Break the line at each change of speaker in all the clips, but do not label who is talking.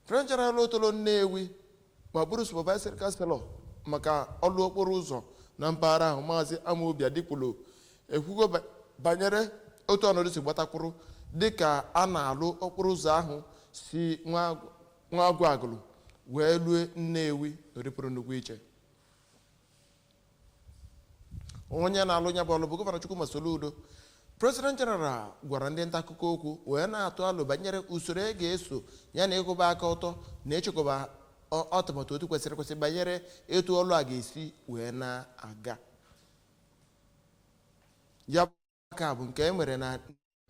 President General otolo Nnewi ma bụrụ supervisory councillor maka ọlụ okporo ụzọ na mpaghara ahụ maazị Amobi Adikwulu ekwugo banyere otu ọnọdụ si gbatakwụrụ dịka a na-alụ okporo ụzọ ahụ si Nwagụ Agụlụ wee lue Nnewi ọrụ pụrụ nnukwu iche onye na-alụ ya bụ ọlụ bụ gọvanọ Chukwuma Soludo president general gwara ndị nta akụkọ okwu wee na-atụ alo banyere usoro e ga-eso ya na ịkwụba aka ọtọ na ịchịkọba ọ- atụmatụ otu kwesịrị ekwesị banyere etu ọlụ a ga-esi wee na-aga ya aka bụ nke e nwere na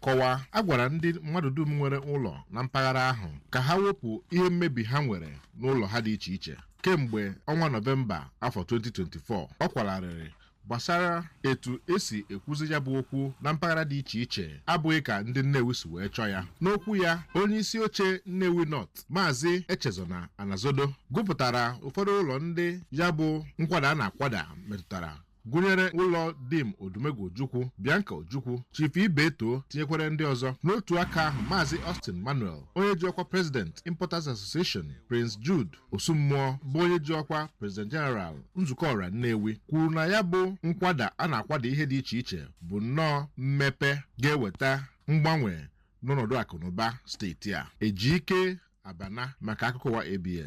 kọwaa
a gwara ndị mmadụ dum nwere ụlọ na mpaghara ahụ ka ha wepụ ihe mmebi ha nwere n'ụlọ ha dị iche iche kemgbe ọnwa nọvemba afọ 2024 ọ kwala arịrị gbasara etu e si ekwuzi ya bụ okwu na mpaghara dị iche iche abụghị ka ndị Nnewi si wee chọọ ya n'okwu ya onye isi oche Nnewi North maazị Echezona Anazodo gụpụtara ụfọdụ ụlọ ndị ya bụ nkwada a na-akwada metụtara gụnyere ụlọ dim odumegwu ojukwu bianca ojukwu chief ibeto tinyekwara ndị ọzọ n'otu aka ahụ maazị austin manuel onye ji ọkwa president importers association prince jude osumuo bụ onye ji ọkwa president general nzukọ ọra nnewi kwuru na ya bụ nkwada a na-akwada ihe dị iche iche bụ nnọọ mmepe ga-eweta mgbanwe n'ọnọdụ akụnụba steeti a ejike abana maka akụkọ ụwa abs